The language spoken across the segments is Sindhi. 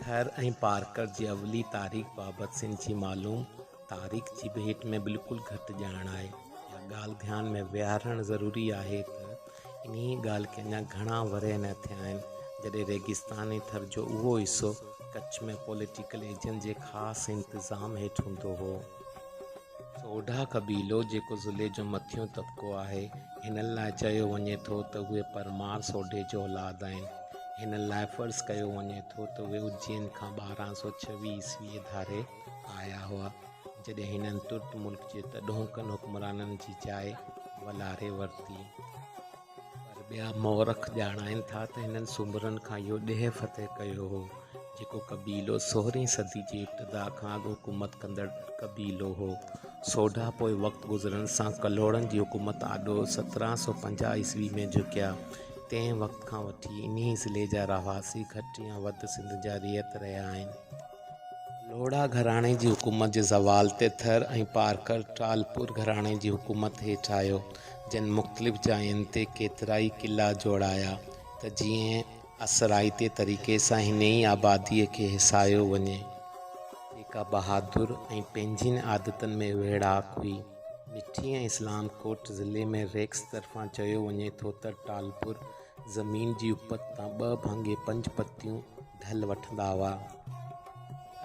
ٿر ۽ پارڪر جي اولي تاريخ بابت سنڌ جي معلوم تاريخ جي ڀيٽ ۾ بلڪل گهٽ ڄاڻ آهي. اها ڳالهه ڌيان ۾ ويهارڻ ضروري آهي ته انهيء ڳالهه کي اڃا گهڻا ورهيه نه ٿيا آهن، جڏهن ريگستاني ٿر جو اهو حصو ڪڇ ۾ پوليٽيڪل ايجنٽ جي خاص انتظام هيٺ هوندو هو. سوڍا قبيلو جيڪو ضلعي جو مٿيون طبقو آهي، هن لاء چيو وڃي ٿو ته اهي پرمار سوڍي جو اولاد آهن. هن لاء فرض ڪيو وڃي ٿو ته اهي اجين کان ٻارهن سؤ ڇويهه عيسويء ڌاري آيا هئا، جڏهن هنن ترت ملڪ جي تڏهوڪن حڪمرانن جي جاء ولاري ورتي. پر ٻيا مورخ ڄاڻائين ٿا ته هنن سومرن کان اهو ڏيهه فتح ڪيو هو، جيڪو قبيلو سورهين صدي جي ابتدا کان اڳ حڪومت ڪندڙ قبيلو هو. سوڍا پوء وقت گذرڻ سان ڪلهوڙن جي حڪومت آڏو سترهن سؤ پنجاهه عيسوي ۾ جهڪيا. تنهن وقت کان وٺي انهي ضلعي جا رهواسي گهٽ يا وڌ سنڌ جا رعيت رهيا آهن. لوڙها گهراڻي جي حڪومت جي زوال تي ٿر ۽ پارڪر ٽالپور گهراڻي جي حڪومت هيٺ آيو، جن مختلف جاين تي ڪيترائي قلعا جوڙايا ته جيئن اثرائتي طريقي سان هن ئي آباديء کي هيسايو وڃي، جيڪا بهادر ۽ پنهنجين عادتن ۾ ويڙهاڪ هئي. مٺي ۽ اسلام ڪوٽ ضلعي ۾ ريڪس طرفان چيو وڃي ٿو ته ٽالپور زمين جي اپت تان ٻه ڀاڱي پنج پتيون ڍل وٺندا هئا.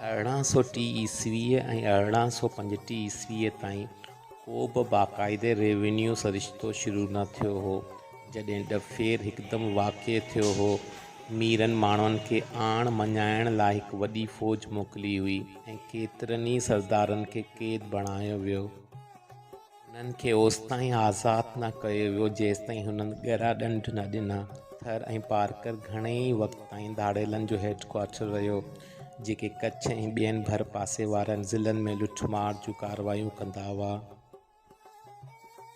ارڙهن سؤ ٽي عيسويء ۽ ارڙهن سؤ پنجٽيهه عيسويء تائين ڪو به باقاعدي ريونيو سرشتو شروع نه ٿيو هو، جڏهن ڏڦير هڪدم واقع ٿيو هو. ميرن ماڻهن کي آڻ مڃائڻ لاء هڪ وڏي فوج موڪلي هئي ۽ ڪيترن ئي سردارن کي قيد بڻايو ويو. هنن کي اوستائين آزاد نه ڪيو ويو جيستائين هنن ڳرا ڏنڊ نه ڏنا. ٿر ۽ پارڪر گهڻي ئي وقت تائين ڌاڙيلن جو هيڊ ڪوارٽر رهيو، جيڪي ڪڇ ۽ ٻين ڀرپاسي وارن ضلعن ۾ لٺ مار جون ڪارروايون ڪندا هئا.